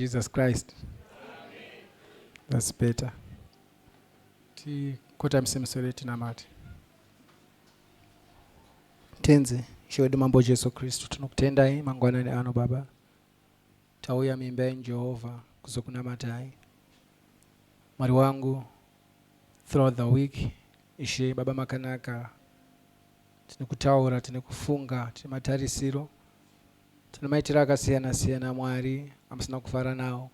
Jesus Christ. Amen. That's better. Tikotamse misoro tinamate. Tenzi, Ishe wedu Mambo Jesu Kristu, tinokutendai mangwanani ano Baba. Tauya mimba yenyu Jehovha kuzokunamatai. Mwari wangu, throughout the week, Ishe Baba makanaka, tine kutaura, tine kufunga, tine matarisiro. Tine maitiro akasiyana siyana aMwari amusina kufara nawo.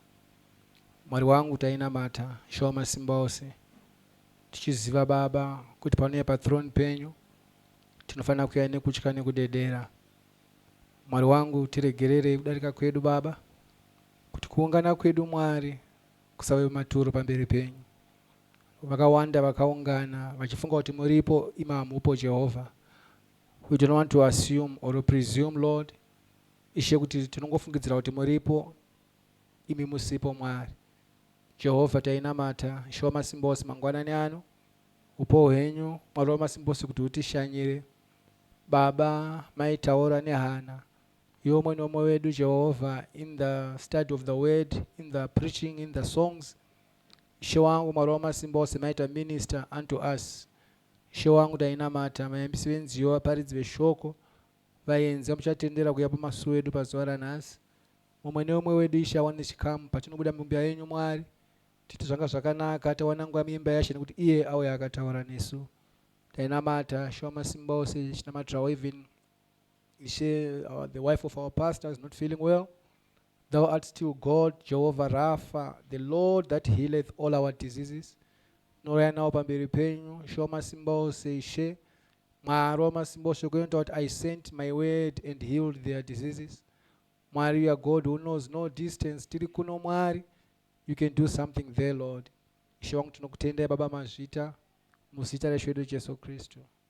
Mwari wangu tainamata, Ishe wamasimba ose, tichiziva Baba kuti panouya pathrone penyu tinofanira kuuya nekutya nekudedera. Mwari wangu tiregererei kudarika kwedu Baba, kuti kuungana kwedu Mwari kusave maturo pamberi penyu. Vakawanda vakaungana vachifunga kuti muripo imi hamupo Jehovha, We don't want to assume or presume Lord Ishe kuti tinongofungidzira kuti muripo imi musipo Mwari Jehovah tainamata Ishe wamasimbose mangwanani ano hupo hwenyu Mwari wamasimbose kuti hutishanyire Baba mai taura nehana yomwe nomwe wedu Jehovah in the study of the word in the preaching in the songs Ishe wangu Mwari wamasimbose maita minister unto us Ishe wangu tainamata, vayambisi venziyo, vaparidzi veshoko, vaenzi vamuchatendera kuuya pamasuwo edu pazuva ranhasi. Mumwe neumwe wedu Ishe awane chikamu patinobuda mumba yenyu Mwari titi zvanga zvakanaka tawana nguva muimba yaShe nekuti iye auya akataura nesu. Tainamata, She wamasimbaose, chinamatirawo even. Ishe, our, the wife of our pastor is not feeling well. Thou art still God, Jehovah Rapha, the Lord that healeth all our diseases. Noraya nawo pamberi penyu, Ishe wamasimba ose, Ishe, Mwari wamasimba ose, kuenda kuti I sent my word and healed their diseases. Mwari, you are God who knows no distance, tiri kuno Mwari, you can do something there, Lord. Ishe wangu tinokutendai Baba Mazvita, muzita reShe wedu Jesu Kristu.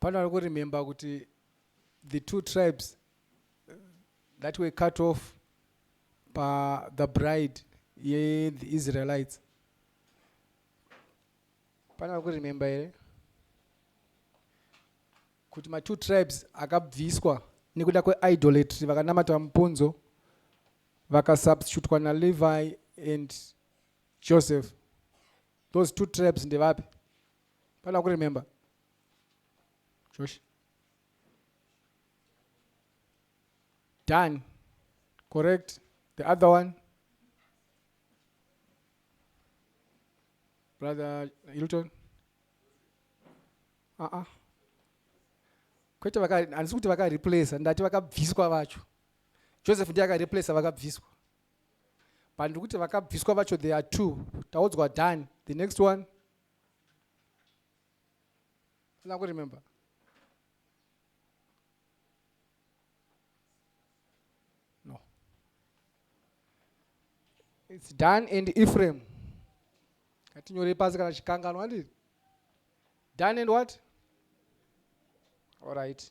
pano ari kuremember kuti the two tribes uh, that were cut off pa the bride ye the israelites pano ari kuremember here kuti matwo tribes akabviswa nekuda kweidolatry vakanamata mupunzo vakasubstitutwa nalevi and joseph those two tribes ndevapi Pana kuri remember. Josh. Done. Correct. The other one. Brother Hilton. Ah uh ah. -uh. Kwete vaka handisi kuti vaka replace ndati vakabviswa vacho. Joseph ndiye aka replace vakabviswa. But ndikuti vakabviswa vacho they are two. Taudzwa done. The next one. Sina ku remember. No. It's Dan and Ephraim. Ngatinyore pasi kana chikanganwa handiti? Dan and what? All right.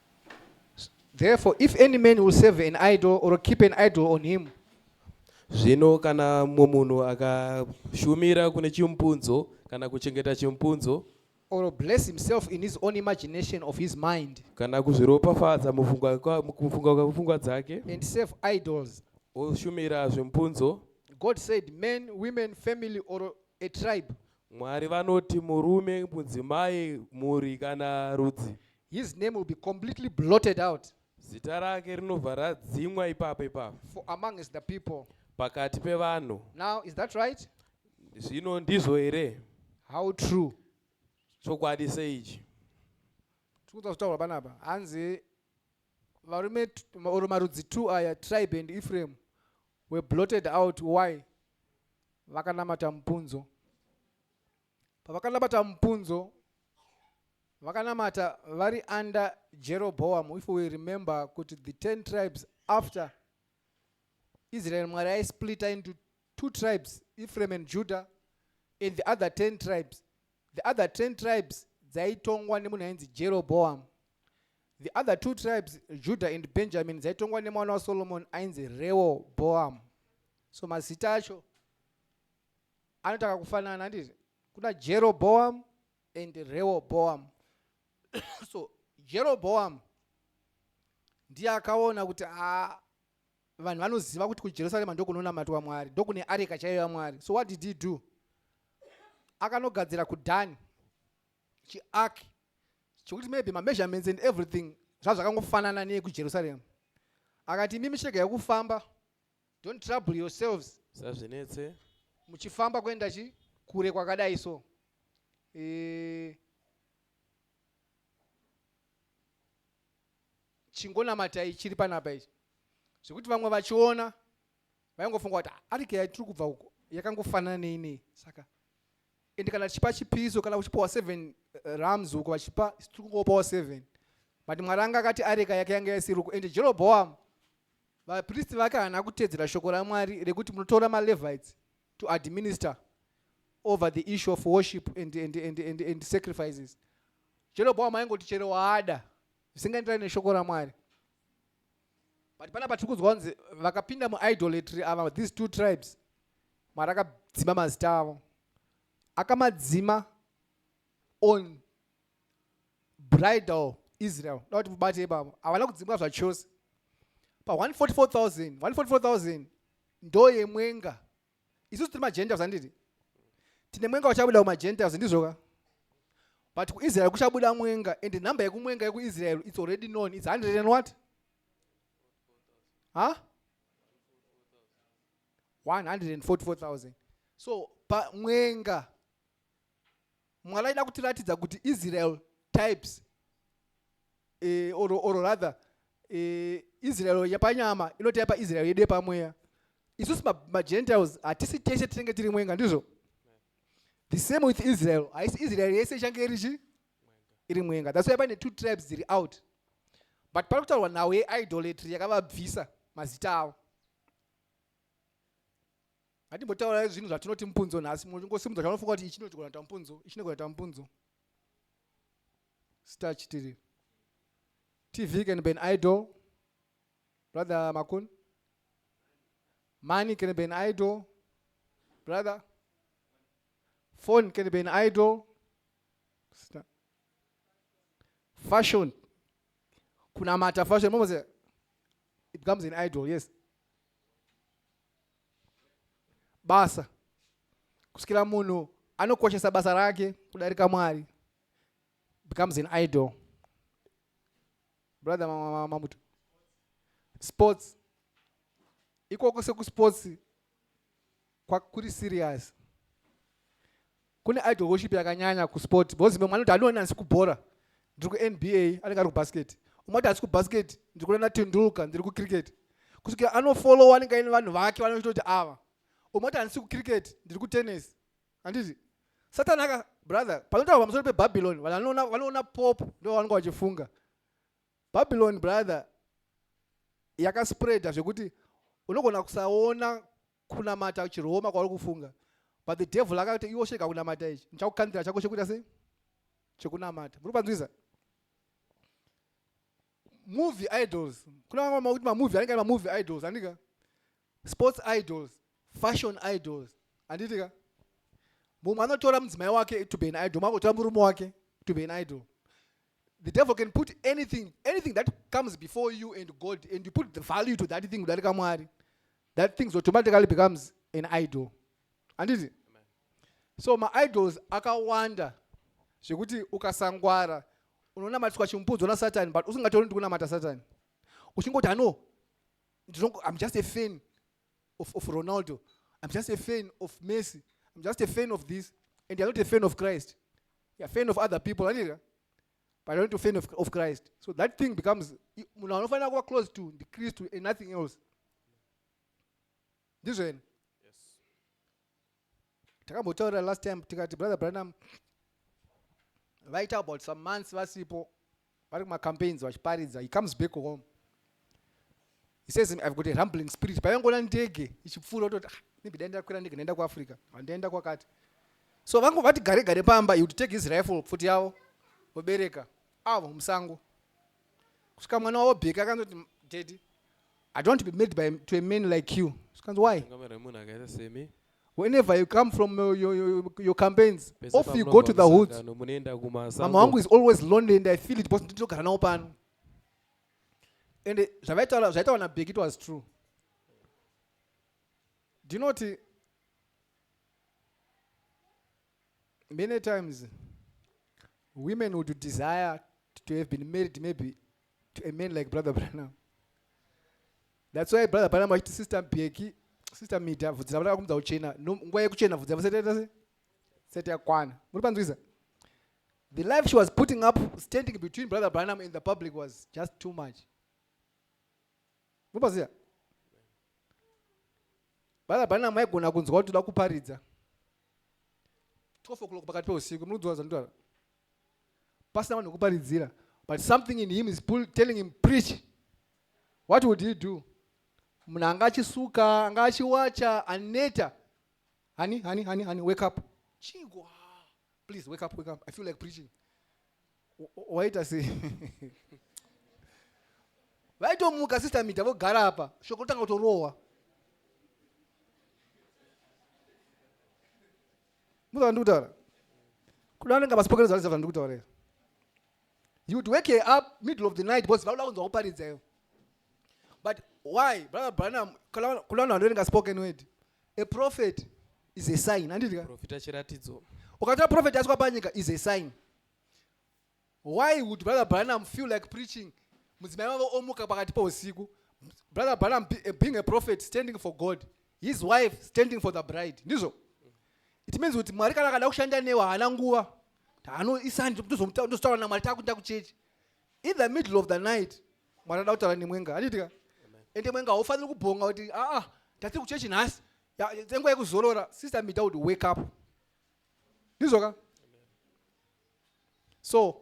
Therefore, if any man will save an idol or keep an idol on him, Zvino kana mumwe munhu akashumira kune chimupunzo kana kuchengeta chimupunzo or bless himself in his own imagination of his mind, kana kuzviropafadza mufunga kwa- mukufunga kwapfungwa dzake and serve idols, oshumira zvimupunzo, God said, men, women, family, or a tribe, Mwari vanoti murume, mudzimai, mhuri kana rudzi. His name will be completely blotted out. Zita rake rinobva radzimwa ipapo ipapo. For amongst the people. Pakati pevanhu. Now is that right? Zvino ndizvo here? How true? Chokwadi seichi. Tikuda kutaura panapa. Hanzi varume or marudzi two aya tribe and Ephraim were blotted out why? Vakanamata mupunzo. Pavakanabata mupunzo, vakanamata vari under Jeroboam. If we remember kuti the 10 tribes after Israel Mwari aisplita into two tribes, Ephraim and Judah and the other 10 tribes. The other 10 tribes dzaitongwa nemunhu ainzi Jeroboam. The other two tribes, Judah and Benjamin, dzaitongwa nemwana waSolomon ainzi Rehoboam. So mazita acho anoita kakufanana handiti kuna jeroboam and rehoboam so jeroboam ndiye akaona kuti a vanhu vanoziva kuti kujerusarema ndokunonamatwa mwari ndokune areka chaiyo yamwari so what did he do akanogadzira kudhani chiark chekuti maybe mameasurements and everything zvazvakangofanana neyekujerusarema akati imimi chirega yekufamba Don't trouble yourselves. Musazvinetse. Muchifamba kuenda chi kure kwakadai so. Eh, chingonamatai chiri panapa ichi zvekuti vamwe vachiona vaingofunga kuti ah, arike yatiri kubva uko yakangofanana neinei saka ende kana tichipa chipiso kana uchipiwa seven eh, rams uko vachipa tiri kungopawo seven but mwari anga akati areka yake yanga yasiri uko ende jeroboam Vapristi vakahana kutedzera shoko raMwari rekuti munotora maLevites to administer over the issue of worship and, and, and, and, and sacrifices. Jeroboam aingoti chero waada zvisingaenderani neshoko raMwari. But pana patiri kunzwa kunzi vakapinda muidolatry ava these two tribes Mwari akadzima mazita avo. Akamadzima on bridal israel da kuti mubate ipapa havana kudzimwa zvachose pa 144000 144000 ndoyemwenga isusu tiri magentiles handiti tine mwenga uchabuda kumagentiles ndizvoka but kuisrael kuchabuda mwenga and number yekumwenga yekuisrael its already known its 100 and what ha huh? 144000 so pa mwenga Mwari aida kutiratidza kuti Israel types eh, or, or rather eh, Israel yapanyama inoti yapa Israel yedu yepamweya isusu magentiles hatisi tese tinenge tiri mwenga ndizvo the same with Israel haisi Israel yese ichange iri chi iri mwenga that's why pane two tribes dziri out but pari kutaurwa nhau yeidolatry yakavabvisa mazita avo ngatimbotaura zvinhu zvatinoti mupunzo nhasi munongosimudza chaunofunga kuti ichi nogona kuita mupunzo ichi nogona kuita mupunzo star chitiri tv can be an idol brother makun money can be an idol brother phone can be an idol Sister. fashion kunamata fashion momose it becomes an idol yes basa kusvikira munhu anokoshesa basa rake kudarika mwari becomes an idol brother mamuto sports ikoko sekusports Kuri serious. Kune idol worship yakanyanya kusport because mwe mwanoti anoona asi kubhora ndiri kuNBA anenge ari kubasket. Umati asi kubasket ndiri kuona Tendulka ndiri kucricket. Kusvika anofollowa anenge aine vanhu vake vanoita kuti ava. Umati andisi kucricket ndiri kutennis. Handiti? Satan aka brother panotaura pamusoro pebabylon vanhu vanoona pop ndo vanenge vachifunga babylon brother yakaspreada zvekuti unogona kusaona kunamata chirooma kwauri kufunga but the devil akati iwo shega kunamata ichi ndichakukandira chako chekuita sei chekunamata muri panzwiza movie idols kuna vamwe makuti mamovie anenge ari mamovie idols andika sports idols fashion idols anditika mumwe anotora mudzimai wake to be an idol makutora murume wake to be an idol the devil can put anything anything that comes before you and god and you put the value to that thing kudarika mwari that things automatically becomes an idol handiti so maidols akawanda zvekuti ukasangwara unonamatiswa chimupudzo nasatani but usingatauri ndikunamata satani uchingoti ano i'm just a fan of, of ronaldo i'm just a fan of messi i'm just a fan of this and you're not a fan of christ you're a fan of other people handika but only to fan of, of christ so that thing becomes munhu anofanira kuva close to ndikristu and nothing else ndizveni takambotaurira last time tikati brother branham vaita about some months vasipo vari kumacampaigns vachiparidza he comes back home he says i've got a rumbling spirit paivangoona ndege ichipfuura ototi ah, maybe dai ndakwira ndege ndaenda kuafrica handaenda kwakati so vangu vati gare gare pamba he would take his rifle pfuti yavo vobereka avo musango kusvika mwana wavo bheki akanzoti daddy i don't be made by to a man like you zvikanzi why whenever you come from your, your, your, your campaigns off you go to the hoods mama wangu is always lonely and i feel it because ndinotogara nawo pano ende zvavaitaura zvaitaura nabek it was true ndinoti many times women would desire to have been married maybe to a man like brother branam that's why brother branam achiti sister beki sister mida vhudzi ravo rakakumudza kuchena nguva yekuchena vhudzi ravo setaita se seti yakwana muri panzwisa The life she was putting up standing between brother Branham and the public was just too much. Mubaziya? Brother Branham aigona kunzwa kuti toda kuparidza. 12 o'clock pakati peusiku munodzwa zandora. Pasina vanhu kuparidzira but something in him is pull, telling him preach. What would he do? Munhu anga achisuka, anga achiwacha, aneta. Honey, honey, honey, honey, wake up. Chingwa. Please wake up, wake up. I feel like preaching. Waita sei? Vaitomuka sister Mita vogara apa. Shoko tanga kutorohwa. Mudza vandiri kutaura. Kuda vanenge vasipoka nezvavarisa vandiri kutaura here? You would wake her up middle of the night because vanoda kunzwa kuparidza ivo. But why? Brother Branham, kuda vanhu vanenge spoken word. A prophet is a sign. Anditi ka? Profita chiratidzo. Ukatwa prophet aswa panyika is a sign. Why would brother Branham feel like preaching? Mudzimai wavo omuka pakati pousiku. Brother Branham be- eh, being a prophet standing for God. His wife standing for the bride. Ndizvo? It means kuti Mwari kana akada kushanda newe haana nguva. Hano isanje ndozomuta- ndozotaura naMwari takuenda kuchechi. In the middle of the night mwari ada kutaura nemwenga handitika ende mwenga haufaniri kubhonga kuti aa tati kuchechi nhasi tsenguva yekuzorora sister mida kuti wake up ndizvoka so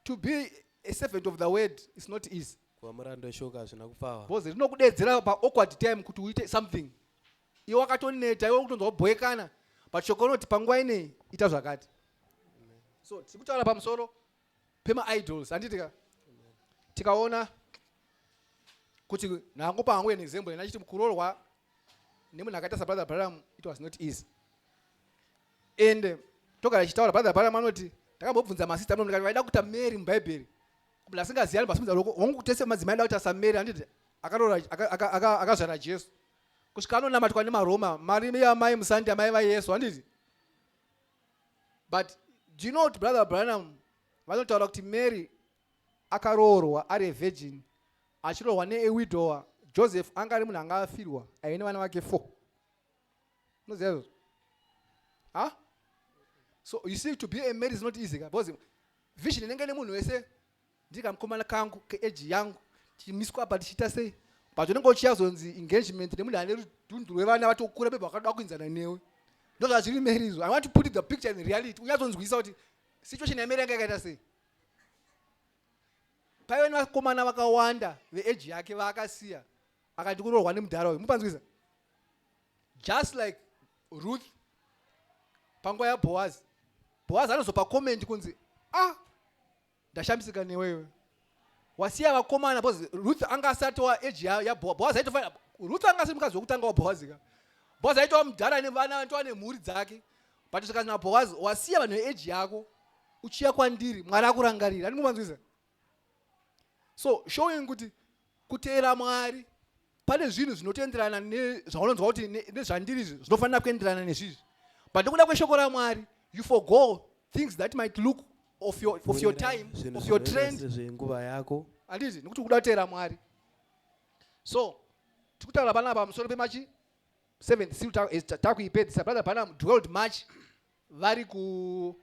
to be a servant of the word is not easy kuva murando weshoka hazvina kupfava bcoz rinokudeedzera paawkward time kuti uite something iwe wakatoneta iwe kutonzwa kubhoekana but shoko rinoti panguva inei ita zvakati so tiri kutaura pamusoro pemaidols handiti ka tikaona kuti ndangopa hangu an example ena achiti kuroorwa nemunhu akaita sabrother braram it was not easy and togara tichitaura brother braram anoti ndakambobvunza masista amwe ndikati vaida kuita mary mubhaibheri kubla asingaziyani pasimudza loko hongu tese madzimai aida kuti asamary handiti akaroora akazvara jesu kusvika anonamatwa nemaroma mari yamai musandi amai vayesu handiti but do you know kuti brother branham vanotaura kuti mary akaroorwa ari avirgin achiroorwa neewidower joseph anga ari munhu anga afirwa aive nevana vake four unoziva izvozvo ha so you see to be a mary is not easy because vision inenge nemunhu wese Ndiri kamukomana kangu keeji yangu tichimiswa apa tichiita sei but unenge uchiyazonzi engagement nemunhu ane rudhundhu rwevana vatokura bebe vakada kuinzana newe ndozvazviri meri izvo i want to put the picture in reality unyazonzwisisa kuti situation yameri yanga yakaita sei paive nevakomana vakawanda veeji yake vaakasiya akati kuroorwa nemudhara uyu mupanzwisa just like ruth panguva yaboazi boazi anozopa comment kunzi ah ndashamisika newe iwe wasiya vakomana because ruth anga asati wa age yaboaz aitofanira ruth anga asiri mukadzi wekutanga waboaz ka boaz aitova mudhara nevana aitova nemhuri dzake but zvikanzi naboaz wasiya vanhu veage yako uchiya kwandiri mwari akurangarira andingomanzwisa so showing kuti Kuteera Mwari pane zvinhu zvinotenderana nezvaunonzwa kuti nezvandiri izvi zvinofanira kuenderana nezvizvi but nokuda kweshoko ramwari you forgo things that might look of your, of your time of your trend zvenguva yako handizi nokuti ukuda kuteera mwari so tikutaura pana pamusoro pemachi 7 siu eh, takuipedzisa brother pana 12 march vari ku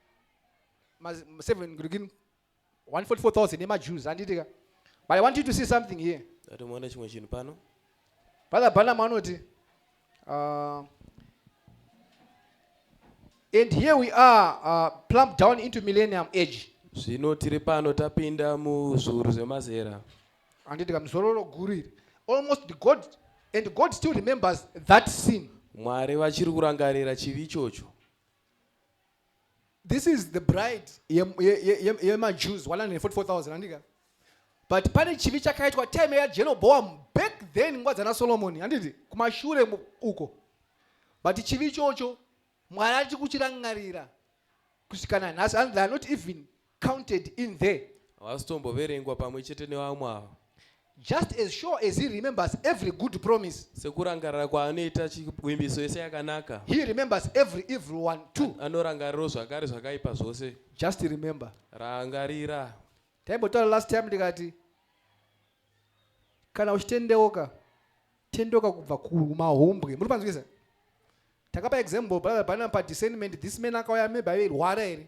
7 ngirigini 144,000 nemaJews handiti ka but I want you to see something here Dati muone chimwe chinhu pano Brother Branham anoti uh, and here we are uh, plumped down into millennium age zvino tiri pano tapinda muzviuru zvemazera handiti ka muzororo guru iri almost the god and god still remembers that sin mwari vachiri kurangarira chivi ichocho this is the bride yemajews 144000 andika but pane chivi chakaitwa time yajeroboam back then nguva dzana solomoni handiti kumashure uko but chivi ichocho mwari achi kuchirangarira kusvikana nhasi and theyare not even counted in there. Havasitomboverengwa pamwe chete nevamwe ava. Just as sure as he remembers every good promise. Sekurangarira kwaanoita chivimbiso yese yakanaka. He remembers every evil one too. Anorangariro zvakare zvakaipa zvose. Just remember. Rangarira. Taimbotaura last time ndikati kana uchitendeuka tendeuka kubva kumahumbwe muri panzwisa takapa example brother banapa discernment this man akauya maybe airwara here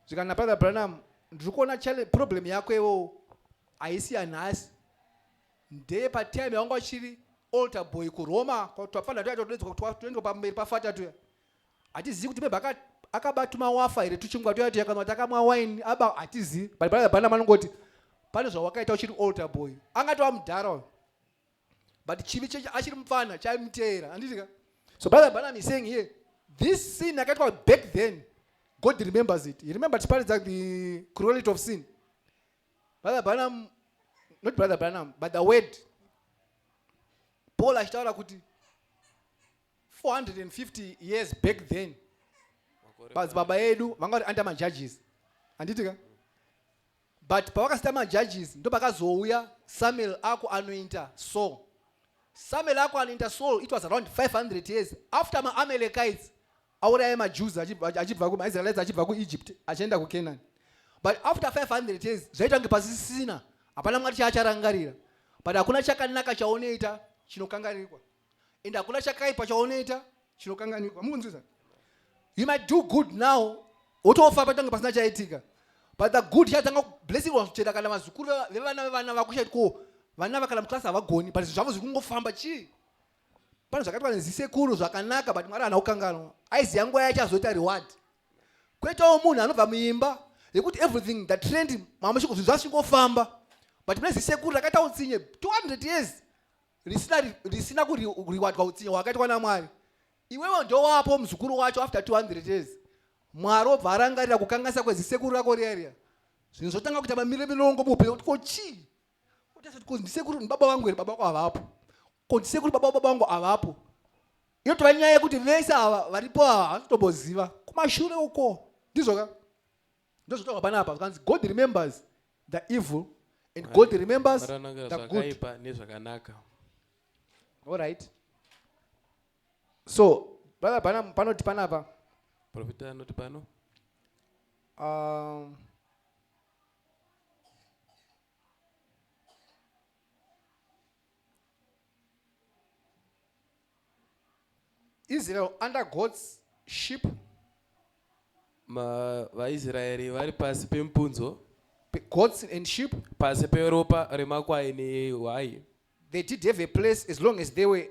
zvikanzi nabrother branham ndiri kuona problem yako iwewo haisi yanhasi ndeye patime yawanga uchiri alter boy kuroma twapfana tuya twatodedzwa toendwa pamberi pafata tuya hatizivi kuti bebha akaba tumawafa here tuchingwa tuya tuya kana kuti akamwa wine aba hatizivi but brother branham anongoti pane zvawakaita uchiri alter boy angatova mudhara uyo but chivi chechi achiri mupfana chaimuteera handiti ka so brother branham is saying here this sin yakaitwa back then god remembers it he remember tiparidza the cruelity of sin brother branham not brother branham but the word paul achitaura kuti 450 years back then baba edu vanga vari under majudges handiti ka But pavakasita ma judges ndopakazouya Samuel ako anointa so Samuel ako anointa Saul it was around 500 years after ma Amalekites auraya ma Jews achibva ku ma Israelites achibva ku Egypt achienda ku Canaan but after 500 years zvaita kunge pasisina hapana mwari chaacharangarira but hakuna chakanaka chaonoita chinokanganirwa and hakuna chakaipa chaunoita chinokanganirwa mukunzwisa you might do good now wotofa patange pasina chaitika but the good chatanga blessingwa kuchera kana vazukuru vevana vevana vakushati ko vana vakana muclasi havagoni but zvavo zviri kungofamba chii pane zvakaitwa nezisekuru zvakanaka but mwari hana kukanganwa aiziva nguva yacho azoita reward kwetawo munhu anobva muimba yekuti everything the trend mamashiko zvinhu zvazvichingofamba but mune zisekuru rakaita utsinye 200 years risina ri- risina kuriwadwa utsinye hwakaitwa namwari iwewe ndowapo muzukuru wacho after 200 years mwari obva arangarira kukanganisa kwezisekuru rako riya riya zvinhu zvotanga kuita mamire milongo muupenyu kuti ko chii utasati ko ndisekuru ndibaba vangu here baba vako havapo ko ndisekuru baba baba vangu havapo yotova nyaya yekuti vese ava varipo ava havatotomboziva kumashure uko ndizvoka Ndozvotaurwa panapa zvikanzi God remembers the evil and God remembers the good. Zvakaipa nezvakanaka. All right. So, brother pana panoti panapa. Profita anoti pano. Um, Israel under God's ship. VaIsraeri vari pasi pemupunzo. Goats and sheep. Pasi peropa remakwai nehwai. They did have a place as long as they were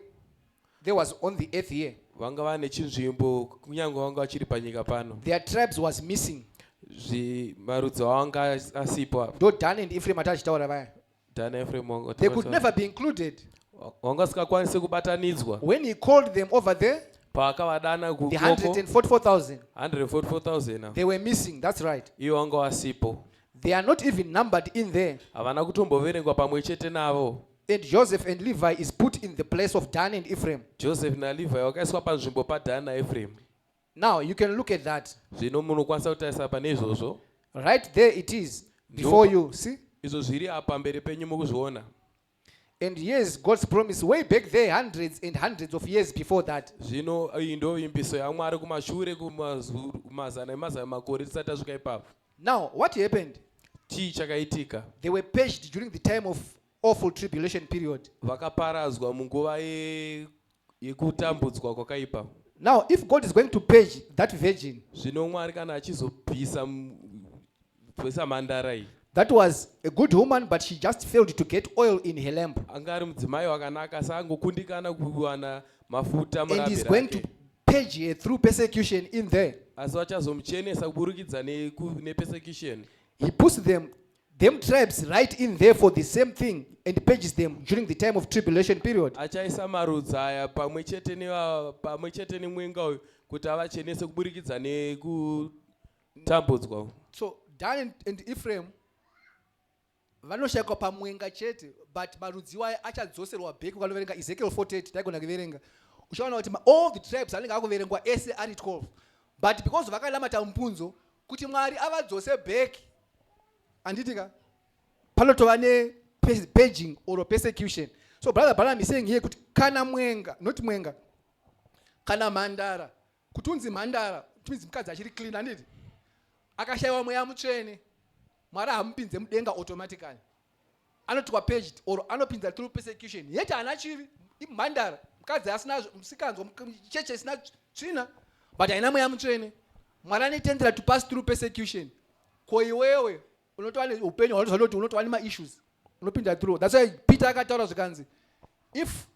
they was on the earth here. Vanga vane chinzvimbo kunyange vanga vachiri panyika pano. Their tribes was missing. Zvi marudzi avo anga asipo. Ndo Dan and Ephraim atachitaura vaya. Dana Ephraim wanga they could never be included wanga sikakwanise kubatanidzwa when he called them over there paakavadana the 144000 144000 they were missing that's right iwo wanga wasipo they are not even numbered in there havana kutomboverengwa pamwe chete navo and joseph and levi is put in the place of dan and ephraim joseph nalevi wakaiswa panzvimbo padan naephraim Now you can look at that. Zvino munokwanisa kutarisa pane izvozvo. Right there it is before you. See? Izvo zviri apa mberi penyu mukuzviona. And yes, God's promise way back there hundreds and hundreds of years before that. Zvino iyi ndo imbiso yaMwari kumashure kumazana emazana makore tisati tasvika ipapo. Now what happened? Chii chakaitika? They were paged during the time of awful tribulation period. Vakaparadzwa munguva ye yekutambudzwa kwakaipa now if god is going to page that virgin zvino mwari kana achizobvisa bvisa mhandara iyi that was a good woman but she just failed to get oil in her lamp anga ari mudzimai wakanaka asi angokundikana kuwana mafuta and he's going to page her through persecution in there asi vachazomuchenesa kuburikidza nepersecution he puts them them tribes write in there for the same thing and purges them during the time of tribulation period achaisa marudzi aya pamwe chete neva- pamwe chete nemwenga uyu kuti avachenese kuburikidza nekutambudzwa uku. so dan and, and ephraim vanoshayikwa pamwenga chete but marudzi iwayo achadzoserwa back ukanoverenga ezekiel 48 taigona kuverenga uchaona kuti ma- all the tribes anenge akuverengwa ese ari 12 but because vakanamata mupunzo kuti mwari avadzose back anditi ka panotova nepaging or persecution so brother branham is saying here kuti kana mwenga not mwenga kana mhandara kuti unzi mhandara timizi mukadzi achiri clean anditi akashayiwa mweya mutsvene mwari hamupinze mudenga automatically anoti kwapedged or anopinza through persecution yet haana chivi imhandara mukadzi asina musikanzwa cheche isina tsvina but haina mweya mutsvene mwari anetendera to pass through persecution ko iwewe unotova neupenyu hwaunozanoti unotova nemaissues unopinda through thats why peter akataura zvikanzi if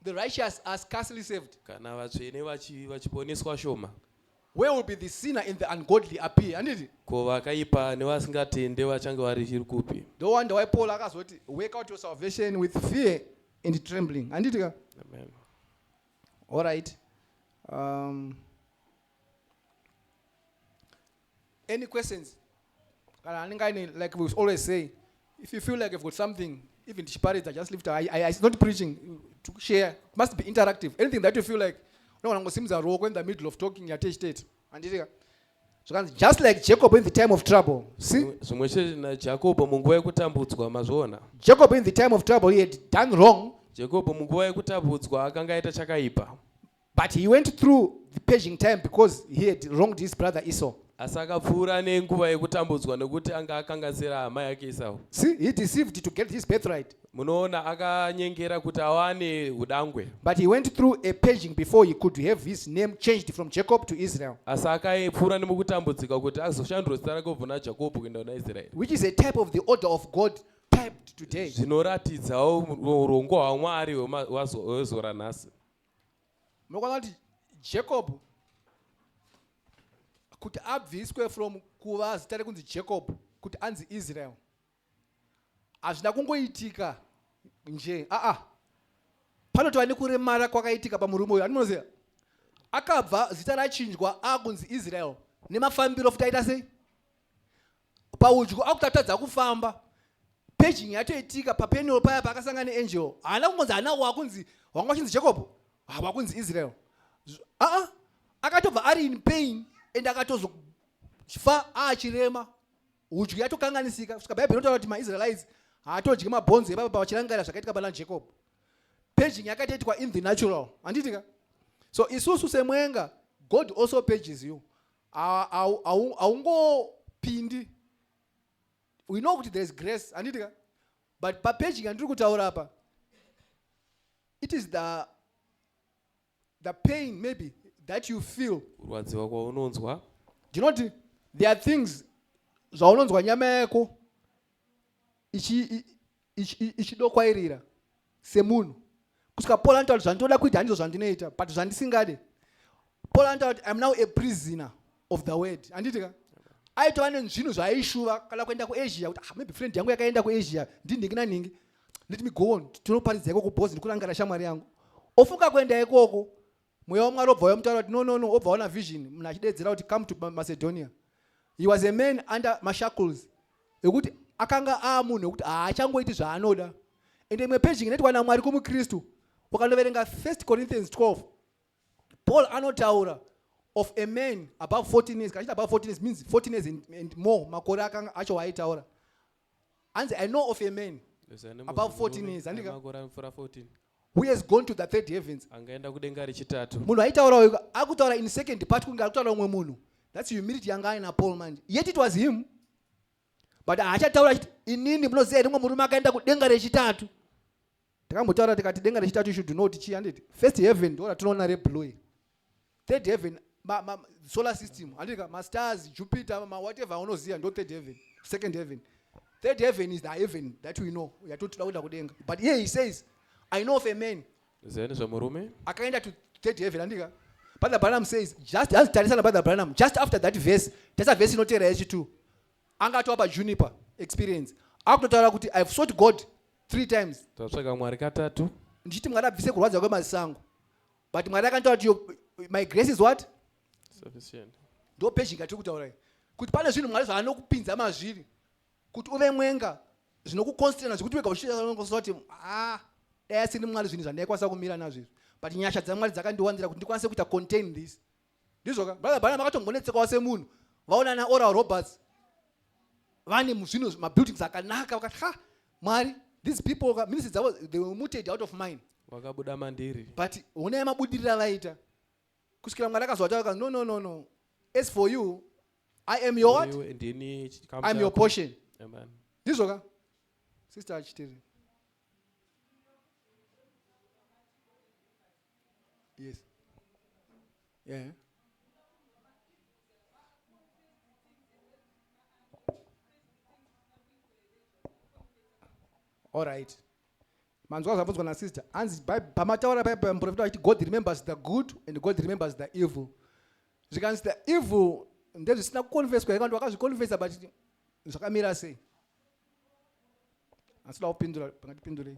the righteous are scarcely saved kana vatsvene vachiponeswa shoma Where will be the sinner and the ungodly appear? Handiti? Ko vakaipa nevasingatende vachange vari chiri kupi? No wonder why Paul akazoti work out your salvation with fear and trembling. Handiti ka? Amen. All right. Um, any questions? kana anenge aine like we always say if you feel like you've got something even tichiparidza just lift I, I, it's not preaching to share it must be interactive anything that you feel like unogona kungosimudza ruoko in the middle of talking yatechitete handitika zvakanzi just like jacob in the time of trouble see zvimwe chete najakobo munguva yekutambudzwa mazviona jacob in the time of trouble he had done wrong jakobo munguva yekutabudzwa akanga aita chakaipa But he went through the paging time because he had wronged his brother Esau. asi akapfuura nenguva yekutambudzwa nekuti anga akanganisira hama yake Esau. See, he deceived to get his birthright. Munoona akanyengera kuti awane hudangwe. But he went through a paging before he could have his name changed from Jacob to Israel. Asi akapfuura nemukutambudzika kuti azoshandurwa zita rake kubva naJakobo kuenda kuna Israeri. Which is a type of the order of God typed today. Zvinoratidzawo urongwa hwaMwari hwema- hwazo- hwezuva ranhasi. mokwana kuti jacob kuti abviswe from kuva zita rekunzi jacob kuti anzi israel hazvina kungoitika nje aa panotova nekuremara kwakaitika pamurume uyo animonoziva akabva zita rachinjwa akunzi israel nemafambiro futi aita sei paudyo akuti atadza kufamba paging yatoitika papenal paya paakasanga neangel haana kungonzi hana wakunzi wanga wachinzi jacob hawakunzi israel aa akatobva ari in pain and akatozofa aachirema udyo yatokanganisika saka bhaibheri inotaura kuti maisraelites haatodye mabhonzo ebaba pavachirangarira zvakaitika pana jacob paging yakatoitwa in the natural handitika so isusu semwenga god also pages you haungopindi we know kuti there is grace handiti ka but papeji yandiri kutaura apa it is the, the pain maybe that you feel kurwadziwa kwaunonzwa ndinoti there are things zvaunonzwa nyama yako ichidokwairira semunhu kusvika paul anotaura kuti zvandinoda kuita handizvo zvandinoita but zvandisingade paul anotaura kuti iam now a prisoner of the word handiti ka aitova nenzvinhu zvaaishuva kana kuenda kuasia kuti ah, maybe friend yangu yakaenda kuasia ndinhingi nanhingi let me go on tinoparidza ikoko bhozi ndikurangara shamwari yangu ofunga kuenda ikoko Mweya waMwari obva uya mutaura kuti no no no obva ona vision munhu achidedzera kuti come to Macedonia. He was a man under mashackles ekuti akanga aamunhu ekuti haachangoiti zvaanoda. Ende imwe page inoitwa naMwari kumuKristu ukanoverenga 1 Corinthians 12 Paul anotaura of a man above 14 years kachiti above 14 years means 14 years and, and more makore acho waaitaura hanzi i know of a man above 14 years andikamakora mfura 14 who has gone to the third heavens angaenda kudenga rechitatu munhu aitaura uyu akutaura in second part kunge akutaura umwe munhu that's humility yanga aina paul manje yet it was him but haachataura achiti inini munoziva here umwe murume akaenda kudenga rechitatu takambotaura tikati denga rechitatu you should know kuti chii handiti first heaven ndo ratinoona reblue iri third heaven ma, ma, solar system handitika mastars jupiter mawhatever aunoziva ndo third heaven second heaven third heaven is the heaven that we know yatotoda kuenda kudenga but here he says i know of a man zeni zvemurume akaenda to third heaven handika brother branham says just as tarisana brother branham just after that verse tasa verse inoteera yechi two anga atova pajuniper experience akutotaura kuti ihave sought god three times tatsvaga mwari katatu ndichiti mwari abvise kurwadza kwemaziso angu but mwari akanditora kuti yo- my grace is what sufficient ndo pezhinga tiri kutaura kuti pane zvinhu mwari zvaanokupinza mazviri kuti uve mwenga zvinokukonstrana zvekuti wega uchiaoa kuti a dai asini mwari zvinhu zvandaikwanisa kumira nazvo izvi but nyasha dzamwari dzakandiwanzira kuti ndikwanise kuita contain this ndizvo ka brother bana makatongonetsekawo semunhu vaona na oral roberts vane muzvino mabuildings akanaka vakati ha mwari these people ka ministry dzavo they were muted out of mind vakabuda mandiri but honai mabudirira vaita kusvikira mwari akazoataura no no no no as for you i am your what ndini chikamu i'm your chako. portion Amen. ndizvo ka sister achitiri Yes. Yeah. All right. manzwa zvabvunzwa nasister hanzi pamataura pai pamuprofita vachiti god remembers the good and god remembers the evil zvikanzi the evil ndezvisina kuconfeswa here kanti wakazviconfesa but zvakamira sei asi da kupindura pangatipindurei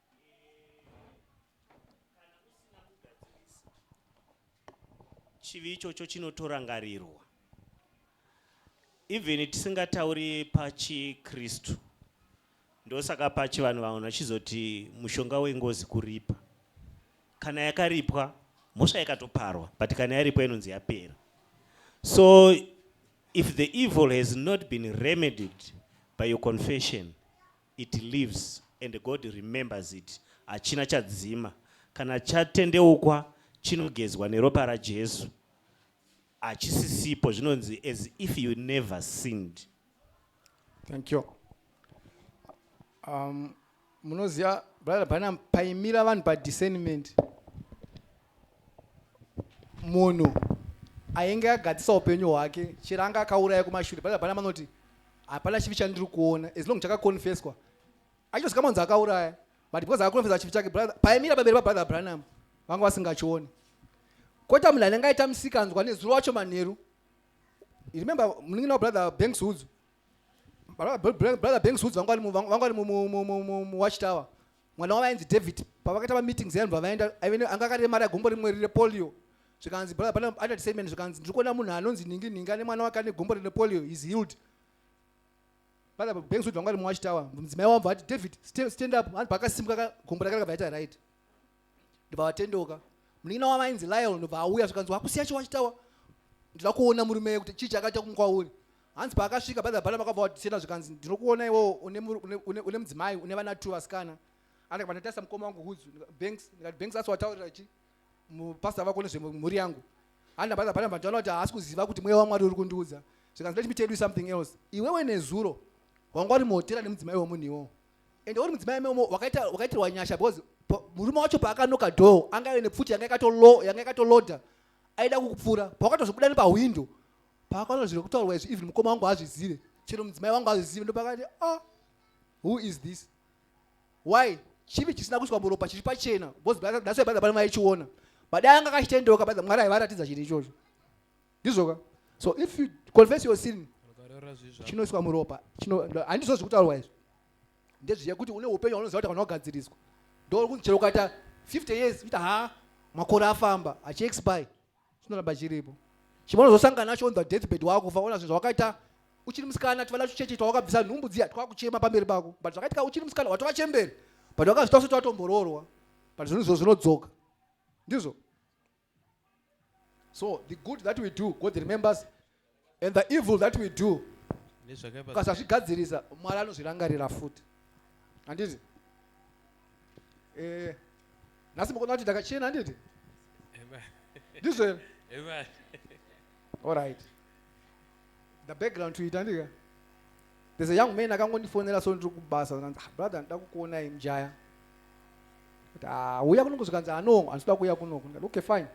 chivi ichocho chinotorangarirwa even tisingatauri pachikristu ndosaka pachi vanhu vanhu vachizoti mushonga wengozi kuripa kana yakaripwa mhosva yakatoparwa but kana yaripwa inonzi yapera so if the evil has not been remedied by your confession it lives and God remembers it hachina chadzima kana chatendeukwa chinogezwa neropa raJesu hachisisipo zvinonzi as if you never sinned thank you um, munoziva brother branham paimira vanhu padiscernment munhu ainge agadzisa upenyu hwake chero anga akauraya kumashure baa bana manoti hapana chivi chandiri kuona as long chakaconfeswa achitosika manzi akauraya but because akaconfesa chivi chake paimira pamberi pabrother branham vanga vasingachioni kota munhu anenge aita musikanzwa nezuro wacho manheru remember munin'ina wabrother banks hudzu brother banks hudzu vanga vari muwatchtower mwana wavo ainzi david pavakaita mameetings yanhu vavaenda anga akaremara gumbo rimwe rine polio zvikanzi brother pana adult statement zvikanzi ndiri kuona munhu anonzi ningi ningi ane mwana wake ane gumbo rine polio is healed brother banks kuti vanga rimwe wachitawa mudzimai wamva ati david stand up anhu pakasimuka gumbo rake rakabva yaita right ndobva vatendoka munin'ina wavo ainzi lion ndobva auya zvikanzi wakusiya chiwachitawa ndinoda kuona murume kuti chii chakaita kumukwauri Hanzi paakasvika brother Balaam akabva wati Sena zvikanzi ndinokuona iwewo une mu- une- une- une mudzimai une vana two vasikana. Andikabva ndatarisa mukoma wangu Hudzu ndika- Banks ndikati Banks asi wataurira chi mupastor vako nezvemhuri yangu. Handa brother Balaam ndaona kuti haasi kuziva kuti mweya waMwari uri kundiudza. Zvikanzi let me tell you something else. Iwewe nezuro wanga wari muhotera nemudzimai wemunhu iwowo. Ende uri mudzimai meomo wakaita wakaitirwa nyasha because pa- murume wacho paakanoka door anga ane pfuti yanga yakatolo yanga yakatoloda aida kukupfura. Pawakatozvibuda nepahwindo paakaona zviri kutaurwa izvi even mukoma wangu haazvizive chero mudzimai wangu haazvizive ndopakati o oh, who is this why chivi chisina kuiswa muropa chiri pachena bcause that's why baiba maichiona but anga akachitendeuka baiba mwari aivaratidza chiri ichocho ndizvoka so if you confess your sin chinoiswa muropa handizvo zviri kutaurwa izvi ndezviya kuti une upenyu hwaunoziva kuti kana wagadziriswa ndokunzi chero ukaita 50 years uita ha makore afamba achiexpire chinoramba chiripo chimonozosangana nacho on the deathbed wakufa ona zvinhu zvawakaita uchiri musikana tivala tucheche twawakabvisa nhumbu dziya twakuchema pamberi pako but zvakaitika uchiri musikana watova chemberi but wakazvita usati watomboroorwa but zvinhu izvo zvinodzoka ndizvo so the good that we do god remembers And the evil that we do nezvakaipa ukasazvigadzirisa mwari anozvirangarira futi handiti Eh, nhasi mukuona kuti ndakachena handiti Amen. ndizvo here Amen. alright the background to it handika there's a young man akangondifonera so ndiri kubasa zvikanzi, "Ah, brother ndida kukuonai mjaya kuti "Ah, uya kunoku zvikanzi ano handitoda kuuya kunoku ndikati okay fine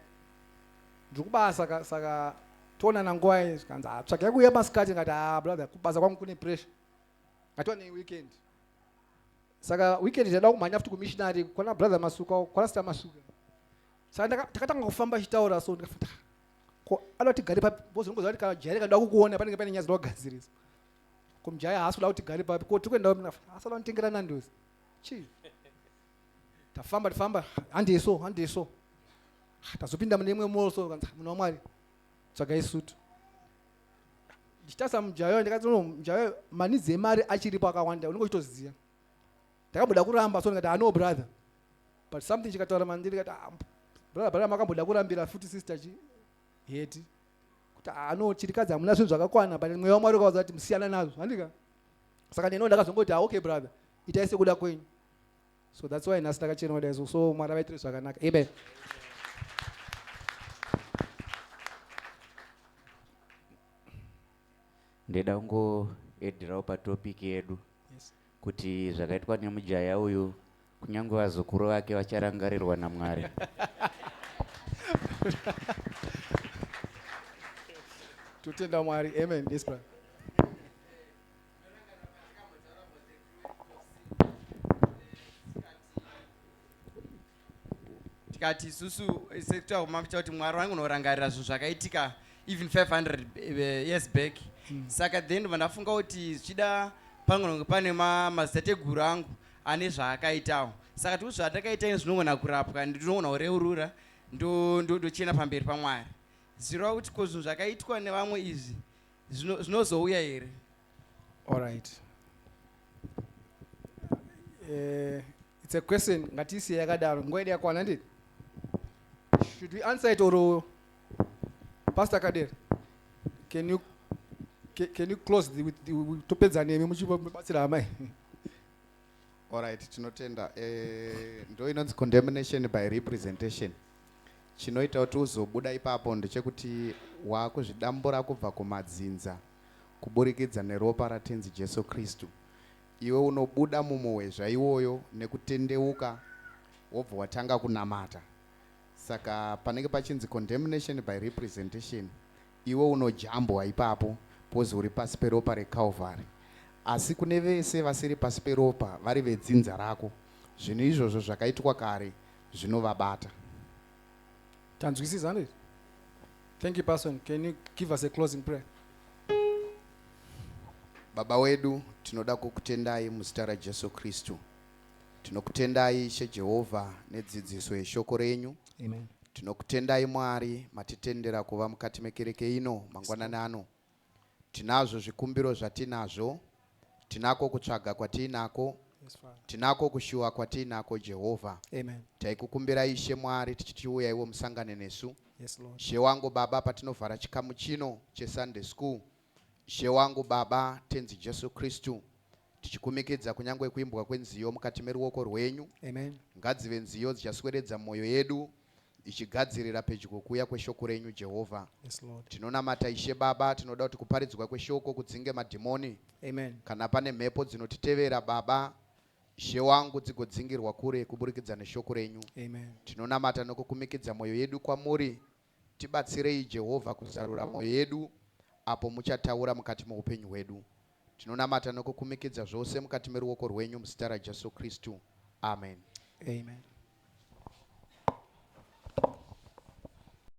Ndiri kubasa saka saka toonana ngwai zvikanzi ah tsvagai kuuya masikati ngati ah brother kubasa kwangu kune pressure ngatiwane weekend saka weekend ndaida kumhanya futi kumissionary kwana brother masuka kwana sita masuka saka takatanga kufamba chitaura so ndikafuta ko anoda tigare papi bozi ndingoziva kuti kana jaya rikanoda kukuona panenge pane nyaya dzinoda kugadzirisa ko mjaya haasi kuda kuti tigare papi ko tiri kuenda asada kunditengera nandozi chii tafamba tafamba handei so handei so ah, tazopinda mune imwe mall so kanzi munhu wamwari tsvagai sutu ndichitasa mujayo ndikati no mujayo manidzi emari achiripo akawanda unenge uchitoziva ndakamboda kuramba so ndikati ano ah, brother but something chikataura mandiri kati ah, brother brother makamboda kurambira futi sister chi heti kuti ano chirikadzi hamuna zvinhu zvakakwana but mweya wamwari ukavaza kuti musiyana nazvo handika saka neno ndakazongoti ah, okay brother itai sekuda kwenyu so that's why nhasi takachena kudai so so mwari vaitire zvakanaka amen ndida kungoedhirawo patopiki yedu yes. kuti zvakaitwa nemujaya uyu kunyange vazukuru vake vacharangarirwa namwari totenda mwari amen yes, tikati isusu sekutaura kumafita kuti mwari wangu unorangarira zvinhu zvakaitika even 500 eh, years back mm. saka then vandafunga kuti zvichida pangononge pane mazitateguru angu ane zvaakaitawo saka tikuti zvatakaita ini zvinogona kurapwa ndinogona kureurura ndochena pamberi pamwari zvirova kuti ko zvinhu zvakaitwa nevamwe izvi Zvino- zvinozouya here Alright. Eh, it's a question ngatiisiye yakadaro nguva yedu yakwana ndini should we answer it or pastor kadera can you ca- can you close the, with the, with- topedza nemi muchibatsira amai Alright, tinotenda. Eh, ndo inonzi condemnation by representation. Chinoita kuti uzobuda ipapo ndechekuti wakuzvidambura kubva kumadzinza kuburikidza neropa raTenzi Jesu Kristu. Iwe unobuda mumuhwezva iwoyo nekutendeuka wobva watanga kunamata. Saka panenge pachinzi condemnation by representation iwe unojambwa ipapo pozi uri pasi peropa reCalvary. Asi kune vese vasiri pasi peropa vari vedzinza rako, zvinhu izvozvo zvakaitwa kare zvinovabata. Tanzwisisa handiti? Thank you person. Can you give us a closing prayer? Baba wedu tinoda kukutendai muzita raJesu Kristu. Tinokutendai Ishe Jehovha nedzidziso yeshoko renyu. Amen. Tinokutendai Mwari matitendera kuva mukati mekereke ino mangwanani ano. Tinazvo zvikumbiro zvatinazvo, tinako kutsvaga kwatiinako, tinako kushuwa kwatiinako, Jehovha. Taikukumbira Ishe Mwari tichitiuya iwo musangane nesu. She wangu Baba, patinovhara chikamu chino cheSunday School, She wangu Baba, Tenzi Jesu Kristu, tichikumikidza kunyange kuimbwa kwenziyo mukati meruoko rwenyu. Ngadzive nziyo dzichasweredza mwoyo yedu ichigadzirira pedyo kuuya kweshoko renyu jehovha Yes, Lord. tinonamata ishe baba tinoda kuti kuparidzwa kweshoko kudzinge madhimoni Amen. kana pane mhepo dzinotitevera baba ishe wangu dzigodzingirwa kure kuburikidza neshoko renyu Amen. tinonamata nokukumikidza mwoyo yedu kwamuri tibatsirei jehovha kuzarura mwoyo yedu apo muchataura mukati moupenyu hwedu Tinonamata nokukumikidza zvose mukati meruoko rwenyu muzita raJesu Kristu. Amen. Amen.